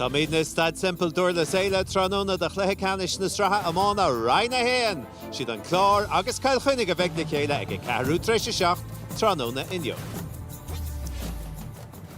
Táimidne i Staid Semple Durlas Éile tráthnóna do Chluiche Ceannais na Sraithe Iomána Roinn 1! Siad An Clár agus Cill Chainnigh a bheidh le chéile ag a ceathrú tar éis a seacht tráthnóna inniu.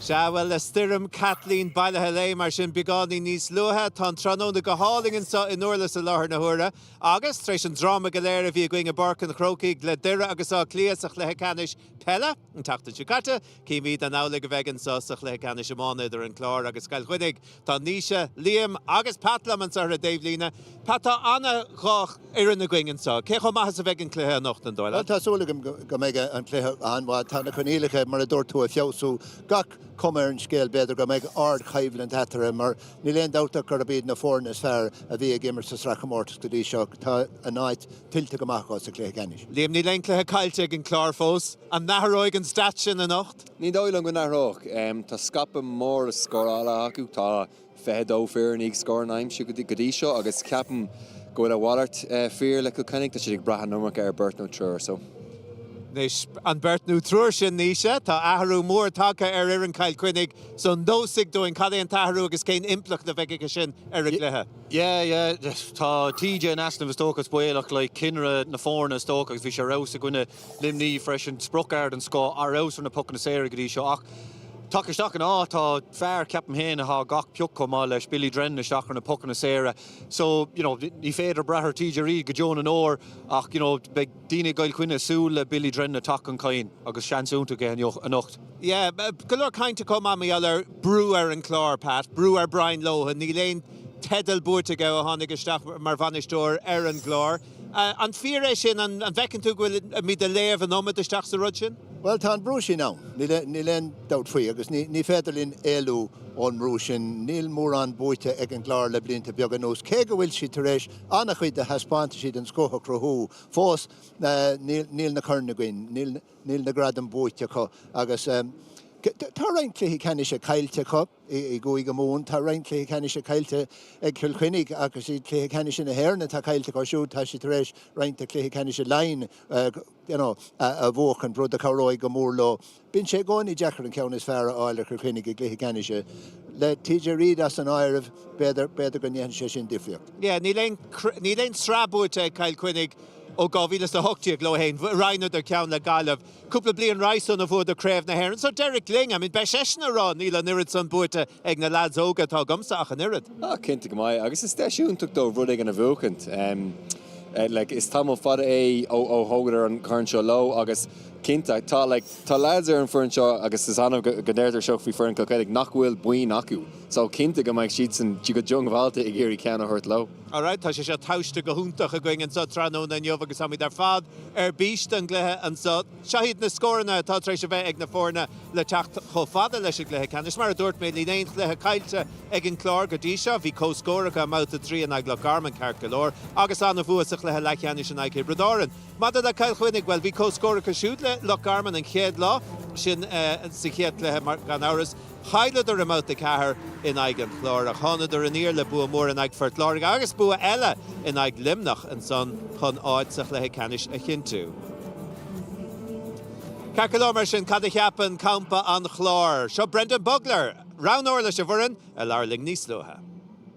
Sea, bhuel, le Stoirm Kathleen bailithe léi mar sin beagáinín níos luaithe, tá an tráthnóna go hálainn anseo i nDurlas i láthair na huaire. Agus, tar éis an dráma go léir a bhí againn i bPáirc an Chrócaigh le Doire agus Áth Cliath sa Chluiche Ceannais Peile an tseachtain seo caite, Cífimid an amhlaidh a bheidh anseo sa Chluiche Ceannais Iomána idir an Clár agus Cill Chainnigh. Tá Naoise, Liam agus Pat liom anseo ar an dtaobhlíne. Pat, tá ana dhá fhoireann againn anseo. Cé chomh maith is a bheidh an cluiche anocht, an dóigh leat? Tá súil agam go mbeidh an cluiche an-mhaith. Tá na coinníollacha, mar a dúirt tú, ag feabhsú. Gach cuma ar an scéal, b'fhéidir, go mbeidh ardchoimhlint eatarthu mar níl aon dabht ach gurb iad na foirne is fearr a bhí ag imirt sa Sraithchomórtas go dtí seo tá a n-áit tuillte go maith acu sa chluiche ceannais. Liam níl aon chluiche caillte ag an Clár fós. An n-athróidh an stat sin anocht? Ní dóigh liom go n-athróidh. Tá scaipeadh mór scórála acu, tá 22 fear i ndiaidh scóranna a aimsiú go dtí seo agus ceapaim go bhfuil a mhalairt fíor le Cill Chainnigh. Tá siad ag brath an iomarca ar beirt nó triúr so. Anois an beirt nó triúr sin Naoise, tá athrú mór tagtha ar fhoireann Chill Chainnigh so neosfaidh dúinn cad é an t-athrú agus cén impleacht a bheidh aige sin ar an gcluiche. Yeah, yeah, tá TJ in easnamh is dócha, is baolach, like, cinnire na foirne is dócha agus bhí sé ar fheabhas i gcoinne Luimní freisin, sprioc ard den scoth, ar fheabhas ar na pocanna saora go dtí seo ach tagtha isteach ina áit tá fear, ceapaim féin, atá gach pioc chomh maith leis, Billy Drennan isteach ar na pocanna saora so, you know, ní féidir brath ar TJ Reid go deo na ndeor ach, you know, beidh. Daoine i gCill Chainnigh ag súil le Billy Drennan a teacht chun cinn agus seans iontach aige anocht. Yeah, go leor cainte chomh maith mar gheall ar brú ar an Chlár, Pat, brú ar Brian Lohan. Níl aon teideal buaite aige ó tháinig isteach mar bhainisteoir ar an gClár. An fíor é sin? An bhfeiceann tú go bhfuilimid ag léamh an iomad isteach sa rud sin? Bhuel, tá an brú sin ann, níl aon dabht faoi, agus ní féidir linn éalú ón mbrú sin. Níl mórán buaite ag an gClár le blianta beaga anuas, cé go bhfuil siad tar éis, An-chuid de thaispeántaisí den scoth a chruthú fós, níl na coirn againn, níl na gradaim buaite acu agus tá roinnt cluichí ceannais caillte acu i gCúige Mumhan, tá roinnt cluichí ceannais caillte ag Cill Chainnigh agus iad cluichí ceannais na hÉireann atá caillte acu siúd, tá siad tar éis roinnt de chluichí ceannais Laighean a bhuachaint, rud a chabhróidh go mór leo. Bíonn sé i gcónaí deacair an ceann is fearr a fháil ar Chill Chainnigh i gcluiche ceannais, le TJ Reid as an áireamh, b'fhéidir go ndéanfaidh sé sin difríocht. Yeah, níl aon sraith buaite ag Cill Chainnigh ó 2018 leo féin. Roinneadar ceann le Gaillimh cúpla bliain roimh san a bhuadar Craobh na hÉireann. So Derek Lyng, I mean beidh seisean a rá níl an oiread san buaite ag na leaids óga atá agamsa ach an oiread. Ah, cinnte go mbeidh, agus is deis iontach dóibh rud éigin a bhuachaint. Like, is tamall fada é ó thógadar an corn seo leo agus cinnte, tá like, tá leaids ar an bhfoireann seo agus is annamh go ndeirtear seo faoi foireann Cill Chainnigh, nach bhfuil boinn acu. So, cinnte go mbeidh siadsan go diongbháilte ag iarraidh ceann a thabhairt leo. Alright, tá sé seo tomhaiste go hiontach againn anseo tráthnóna inniu agus táimid ar fad ar bís don gcluiche anseo. Seo hiad na scóranna atá tar éis a bheith ag na foirne le teacht chomh fada leis an gcluiche ceannais. Mar a dúirt mé, níl aon chluiche caillte ag an gClár go dtí seo. Bhí comhscór acu i mBabhta 3 in aghaidh Loch Garman ceart go leor agus an-bhua sa chluiche leathcheannais in aghaidh Thiobraid Árann. Maidir le Cill Chainnigh, bhuel, bhí comhscór acu siúd le Loch Garman an chéad lá, sin sa chéad chluiche gan amhras, Chailleadar i mBabhta 4 in aghaidh an Chláir ach thánadar aniar le bua mór in aghaidh Phort Láirge agus bua eile in aghaidh Luimneach ansan chun áit sa chluiche ceannais a chinntiú. Ceart go leor mar sin, cad a cheapann campa an Chláir? Seo Brendan Bugler, roghnóir leis an bhfoireann, a labhair linn níos luaithe.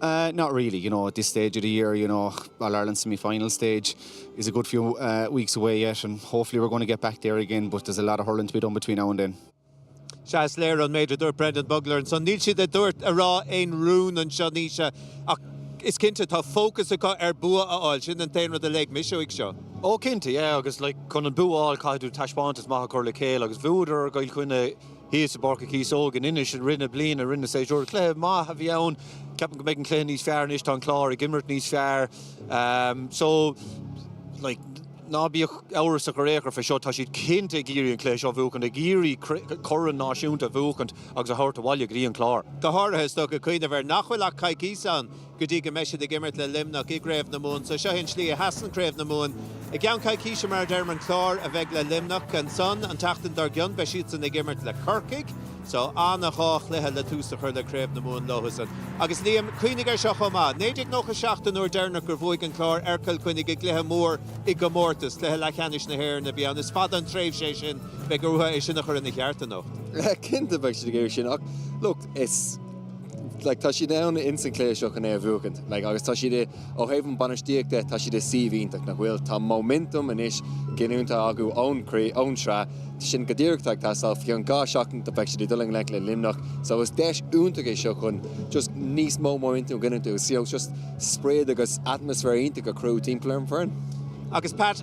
Uh not really you know at this stage of the year you know All Ireland semi-final stage is a good few uh weeks away yet and hopefully we're going to get back there again but there's a lot of hurling to be done between now and then. Sea, is léir an méid a dúirt Brendan Bugler ansan. Níl siad ag dul a rá aon rún anseo anois ach is cinnte tá fócas acu ar bua a fháil, sin an t-aon rud a léigh mise uaidh sin. Ó cinnte, yeah agus like chun an bua a fháil caithfidh tú taispeántas maith a chur le chéile agus bhuadar ar Chill Chainnigh, Thíos i bPáirc an Chíosóig in Inis i rith na bliana, i rith an tséasúir. Cluiche maith a bhí ann. Ceapaim go mbeidh an cluiche níos fearr anois, tá an Clár ag imirt níos fearr. So, like, ná bíodh amhras ar aon chor faoi seo, tá siad cinnte ag iarraidh an cluiche seo a bhuachaint, ag iarraidh corn náisiúnta a bhuachaint agus a thabhairt abhaile go dtí an Clár. Go háirithe, is dócha, cuimhneamh ar nach bhfuil ach coicíos ann go dtí go mbeidh siad ag imirt le Luimneach i gCraobh na Mumhan. So seo hí an slí a sheasann Craobh na Mumhan. I gceann coicíse, mar a deirim, an Clár sa bhaile le Luimneach. Ansan, an tseachtain dár gcionn, beidh siadsan ag imirt le Corcaigh. So ana dhá chluiche le tús a chur le Craobh na Mumhan leosan. Agus Liam, cuimhnigh air seo chomh maith. 1997 an uair deireanach gur bhuaigh an Clár ar Chill Chainnigh i gcluiche mór i gcomórtas. Cluiche leathcheannais na hÉireann a bhí ann. Is fada an tréimhse é sin. Beidh orthu é sin a chur ina cheart anocht. Cinnte beidh siad ag iarraidh sin ach look, is. Tá siad ann ins an chluiche seo chun é a bhuachaint agus tá siad i, ó thaobh an bainistíocht de, tá siad i suíomh iontach, nach bhfuil? Tá móiminteam anois giniúnta acu ón craobh, ón sraith, sin go díreach atá ag teastáil, faoi cheann dhá seachtain beidh siad ag dul i ngleic le Luimneach. So is deis iontach é seo chun just níos mó móiminteam a ghiniúint agus just sprid agus atmaisféar iontach a chruthú timpeall ar an bhfoireann. Agus Pat,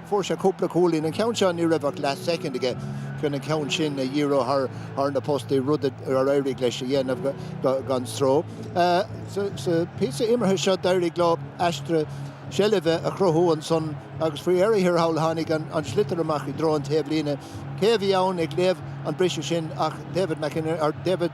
Fuair sé cúpla cúilín. An ceann seo, ní raibh ach leath soicind aige chun an ceann sin a dhíriú thar na postaí, rud ar éirigh leis a dhéanamh gan stró. Sa píosa imeartha seo d'éirigh leo aistriú seilbhe a chruthú ansan agus faoi dheireadh thiar thall tháinig an sliotar amach i dtreo an taobhlíne. Cé a bhí ann ag léamh an briseadh sin ach David,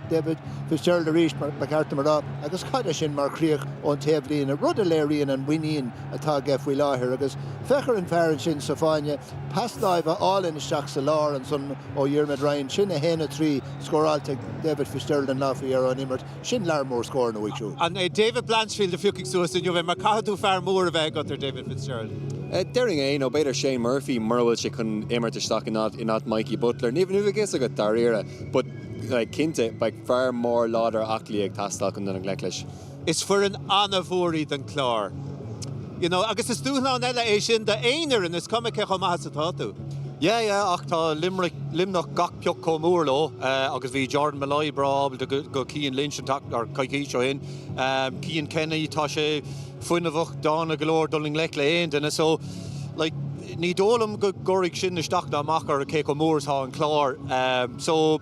David Fitzgerald arís ba cheart dom a rá, agus cad é sin mar chríoch ón taobhlíne, rud a léiríonn an mhuinín atá aige faoi láthair. Agus féach ar an bhfear ansin sa fáinne, pas láimhe álainn isteach sa lár ansan ó Dhiarmuid Ryan. Sin 1, 3, scóráilte ag David Fitzgerald an lá faoi dheireadh ón imirt. Sin lear mór scóranna uaidh siúd. An é David Blanchfield a phiocfaidh suas inniu, mar caithfidh tú fear mór a bheith agat ar David Fitzgerald. Déarfainn é, nó b'fhéidir Shane Murphy, mura bhfuil sé chun imirt isteach in áit Mikey Butler. Ní bheidh a fhios agat dáiríre, but cinnte beidh fear mór láidir aclaí ag teastáil chun dul i ngleic leis. Is foireann an-mhór iad an Clár. You know, agus is dúshlán eile é sin do aon fhoireann, is cuma cé chomh maith is atá tú. Yeah, yeah, ach tá Limerick, Luimneach gach pioc chomh mór leo agus bhí Jordan Molloy breá ábalta do Cian Lynch an tseachtain, or coicís ó shin. Cian Kenny, tá sé fuinneamhach, dána go leor dul i ngleic le aon duine. So, like, ní dóigh liom go gcuirfidh sin isteach ná amach ar cé chomh mór is atá an Clár. So.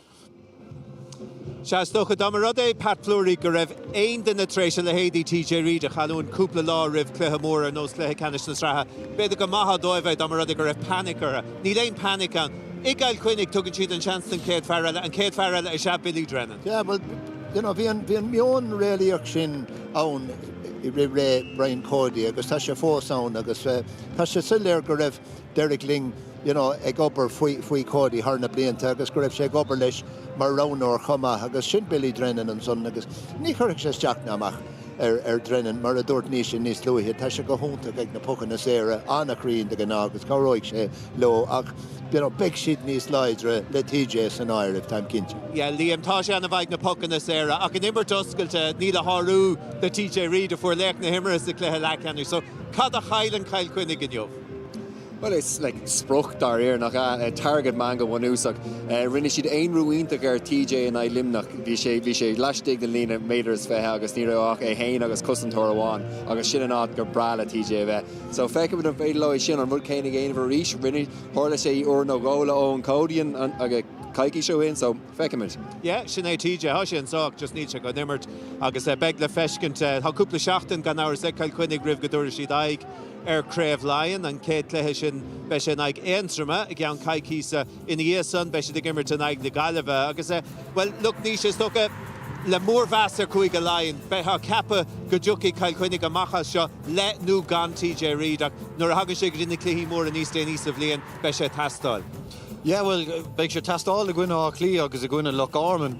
Seans, dócha, dá mba rud é, Pat Fleury, go raibh aon duine tar éis a leithéidí TJ Reid a chailliúint cúpla lá roimh cluiche mór ar nós cluiche ceannais na sraithe. B'fhéidir go maithfeá dóibh é, dá mba rud é go raibh panic orthu. Níl aon panic ann. I gCill Chainnigh, tugann siad an seans don chéad fear eile, an chéad fear eile is ea Billy Drennan. Yeah, bhuel, you know, bhí an, bhí an meon réalaíoch sin ann i rith ré Brian Cody agus tá sé fós ann agus tá sé soiléir go raibh, Derek Lyng you know ag obair faoi faoi Cody thar na blianta agus go raibh sé ag obair leis mar roghnóir chomh maith agus sin Billy Drennan ansan agus ní chuirfidh sé isteach ná amach ar ar Drennan mar a dúirt Naoise níos luaithe tá sé go hiontach ag na pocanna saora an-chruinn de ghnáth agus cabhróidh sé leo ach you know beidh siad níos láidre le TJ san áireamh táim cinnte. Yeah Liam tá sé ana mhaith ag na pocanna saora ach ón imirt oscailte níl a shárú de TJ Reid a fuair laoch na himeartha sa chluiche leathcheannais so cad a chailleann Cill Chainnigh inniu? Bhuel, is spriocfhear é, nach ea? Target man go bunúsach. Rinne siad aonrú iontach ar TJ in aghaidh Luimneach. Bhí sé laistigh den líne méadar is fiche agus ní raibh ach é féin agus cosantóir amháin agus sin an áit gur breá le TJ a bheith. So, feicfimid an féidir leo é sin, an rud céanna a dhéanamh arís. Rinne, tharla sé uair nó dhó le Eoin Cody coicís ó shin. So, feicfimid. Yeah, sin é TJ. Tá sé anseo ach just níl sé chun imirt agus beidh le feiscint. Tá cúpla seachtain, gan amhras, ag Cill Chainnigh roimh go dtabharfaidh siad aghaidh. ar Craobh Laighean, an chéad chluiche sin, beidh sé in aghaidh Aontroma i gceann coicíse. Ina dhiaidh san, beidh siad ag imirt in aghaidh na Gaillimhe agus, bhuel, look, Naoise, is dócha, le mórmheas ar Chúige Laighean, bheifeá ag ceapadh go dtiocfaidh Cill Chainnigh amach as seo le nó gan TJ Reid ach nuair a thagann sé go dtí na cluichí móra níos déanaí sa bhliain, beidh sé ag teastáil. Yeah, bhuel, beidh sé ag teastáil i gcoinne Átha Cliath agus i gcoinne Loch Garman,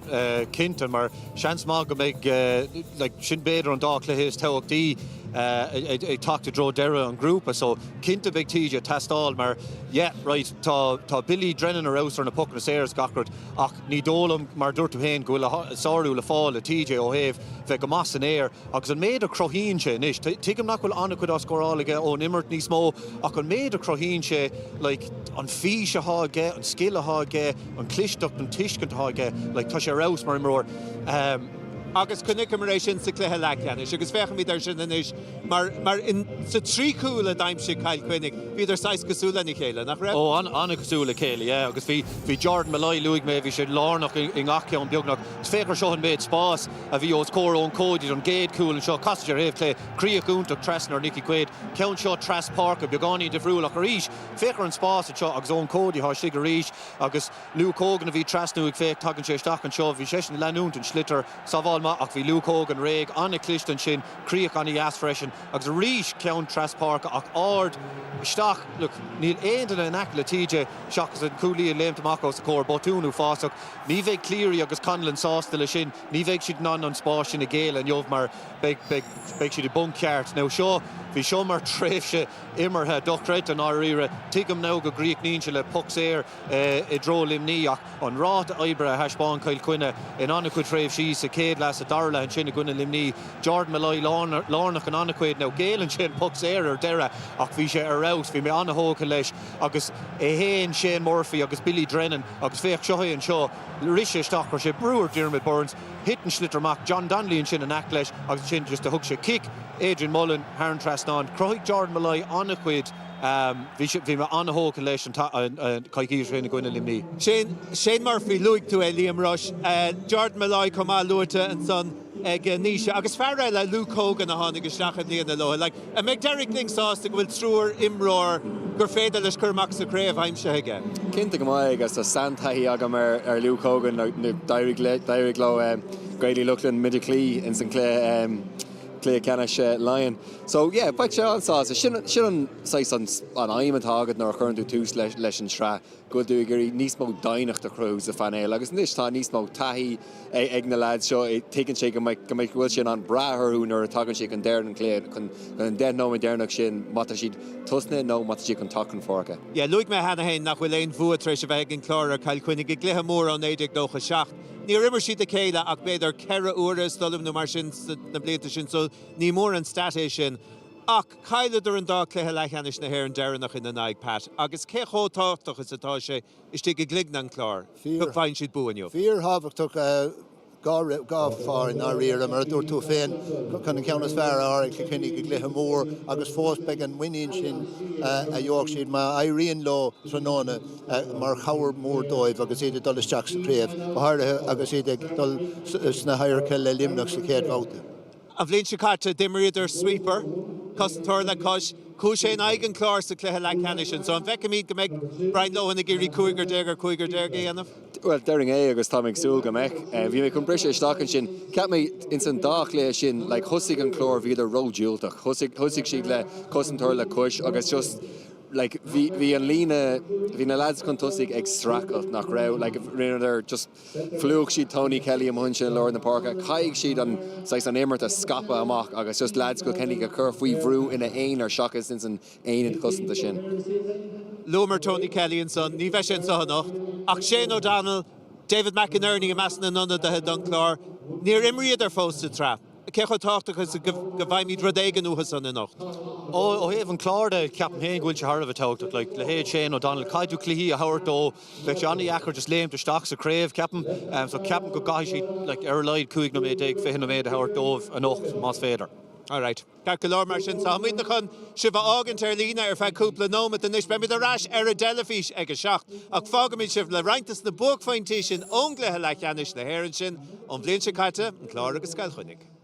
cinnte, mar seans maith go mbeidh, like, sin b'fhéidir an dá chluiche is tábhachtaí ag teacht i dtreo deireadh an ghrúpa, so, cinnte beidh TJ ag teastáil mar, yeah, right, tá Billy Drennan ar fheabhas ar na pocanna saora is gach rud ach ní dóigh liom, mar a dúirt tú féin, go bhfuil sárú le fáil le TJ ó thaobh bheith go maith san aer. Agus an méid a chruthaíonn sé anois, tuigim nach bhfuil an-chuid á scóráil aige ón imirt níos mó, ach an méid a chruthaíonn sé, like, an fís athá aige, an scil athá aige, an chlisteacht, an tuiscint athá aige, like, tá sé ar fheabhas mar imreoir. Agus chonaiceamar é sin sa chluiche leathcheannais agus féachaimid air sin anois mar, mar in, sa trí chúl a d'aimsigh Cill Chainnigh, bhíodar saghas cosúil lena chéile, nach raibh? Ó, an-chosúil le chéile, yeah. Agus bhí, bhí Jordan Molloy, luaigh mé, bhí sé lárnach i ngach ceann beagnach. Féach ar seo an méid spáis. a bhí os comhair Eoin Cody don gcéad chúl anseo, casadh ar thaobh clé, críoch iontach trasna ar Nicky Quaid, ceann seo tras páirce, beagáinín difriúil ach arís féach ar an spás anseo agus Eoin Cody athá istigh arís agus Luke Hogan a bhí trasnú ag féach tagann sé isteach anseo, bhí seisean ag leanúint an sliotar, sábháil maith ach bhí Luke Hogan réidh, an-chliste ansin, críoch an-deas freisin agus arís ceann tras páirce ach ard isteach, look níl aon duine in aice le TJ seachas an cúlaí ag léimt amach os a chomhair, botún uafásach. Ní bheidh Cleary agus Conlon sásta leis sin, ní bheidh siad in ann an spás sin a ghéilleadh inniu mar beidh beidh siad i bponc ceart. Now seo, bhí seo mar tréimhse imeartha dochreidte i ndáiríre. Tuigim now go gcríochnaíonn sé le poc saor i dtreo Luimnigh ach an ráta oibre a thaispeáin Cill Chainnigh in an-chuid tréimhsí, sa chéad leath, sa dara leath ansin i gcoinne Luimnigh, Jordan Molloy lárnach in an-chuid. Now géilleann sé an poc saor ar deireadh ach bhí sé ar fheabhas, bhí mé an-thógtha leis. Agus é féin, Shane Murphy agus Billy Drennan agus féach, seo é anseo, rith sé isteach, chuir sé brú ar Diarmaid Byrnes, thit an sliotar amach, John Donnelly ansin in aice leis agus ansin just a thug sé cic, Adrian Mullen thar an trasnán. Chruthaigh Jordan Molloy an-chuid, bhí sé, bhí mé an-thógtha leis coicís ó shin i gcoinne Luimnigh. Shane, Shane Murphy, luaigh tú é, Liam Rushe, Jordan Molloy chomh maith luaite ansan. ag Naoise agus fear eile, Luke Hogan, a tháinig isteach i mbliana leo. Like, an mbeidh Derek Lyng sásta go bhfuil triúr imreoir gur féidir leis cur amach sa chraobh aimsithe aige? Cinnte go mbeidh, agus tá seantaithí agam ar Luke Hogan. D'éirigh leo Gaeil Uí Lochlainn muid a chloí ins an cluiche ceannais Laighean. So, yeah, beidh sé an-sásta. Sin an saghas an aidhm atá agat nuair a chuireann tú tús leis an tsraith. go dtí gur féidir níos mó doimhneacht a chruthú sa phainéal. Agus anois tá níos mó taithí ag na leaids seo, tuigeann sé go mbeidh, go mbeidh, go bhfuil sé in ann brath orthu nuair a tagann sé chun deireadh an chluiche, chun an deich nóiméad deireanach sin, má tá siad ag tosnú nó má tá siad chun teacht chun páirce. Yeah, luaigh mé cheana féin nach bhfuil aon bhua tar éis a bheith ag an Chlár ar Chill Chainnigh i gcluiche mór ó 1997. Níor imir siad a chéile ach b'fhéidir ceithre uaire, is dóigh liom, nó mar sin sna blianta sin, so ní mór an stat é sin. Ach. Cailleadar an dá cluiche leathcheannais na hÉireann deireanach ina n-aghaidh, Pat, agus cé chomh tábhachtach is atá sé istigh i gcloigne an Chláir go bhfaigheann siad bua inniu? Fíorthábhachtach dáiríre i ndáiríre, mar a dúirt tú féin, chun an ceann is fearr a fháil ar Chill Chainnigh i gcluiche mór agus fós beidh an muinín sin a gheobhaidh siad má éiríonn leo tráthnóna mar chabhair mhór dóibh agus iad ag dul isteach sa chraobh, go háirithe agus iad ag dul sna hadharca le Luimneach sa chéad bhabhta. An bhliain seo caite, d'imríodar sweeper, cosantóir le cois, Cúis é in aghaidh an Chláir sa chluiche leathcheannais sin. So an bhfeicfimid go mbeidh Brian Lohan ag iarraidh cúigear déag ar chúigear déag a dhéanamh? Bhuel, déarfainn é agus tá mé ag súil go mbeidh. Bhí mé chun briseadh isteach ansin. Cheap mé, ins an dá chluiche sin, like, thosaigh an Clár, bhíodar ró-dhiúltach. Thosaigh siad le cosantóir le cois agus just, like, bhí, bhí an líne, bhí na lads chun tosaigh ag stracailt, nach raibh? Like, rinneadar just. Phlúch siad Tony Kelly amach ansin i lár na páirce. Caithfidh siad an saghas an imirt a scaipeadh amach agus just leaids Chill Chainnigh a chur faoi bhrú ina aonar seachas ins an aonad cosanta sin. Luamar Tony Kelly ansan, ní bheidh sé anseo anocht, ach Shane O'Donnell, David McInerney i measc na n-ionadaithe don Chlár, níor imríodar fós sa tsraith. Cé chomh tábhachtach is go bhfaighimid rud éigin uathusan anocht? Ó thaobh an Chláir de, ceapaim féin go bhfuil sé thar a bheith tábhachtach. Leithéid Shane O'Donnell, caithfidh tú cluichí a thabhairt dó. Bheadh sé an-deacair just léimt isteach sa chraobh, ceapaim. So ceapaim go gcaithfidh siad like ar a laghad 15 nóiméad, 20 nóiméad a thabhairt dóibh anocht más féidir. Alright. Ceart go leor mar sin. So táimidne chun sibh a fhágaint ar líne ar feadh cúpla nóimeat anois. Beimid ar ais ar an dteilifís ag a seacht. Ach fágfaimid sibh le roinnt des na buaicphointí sin ón gcluiche leathcheannais na hÉireann sin ón bhliain seo caite, an Clár agus Cill Chainnigh.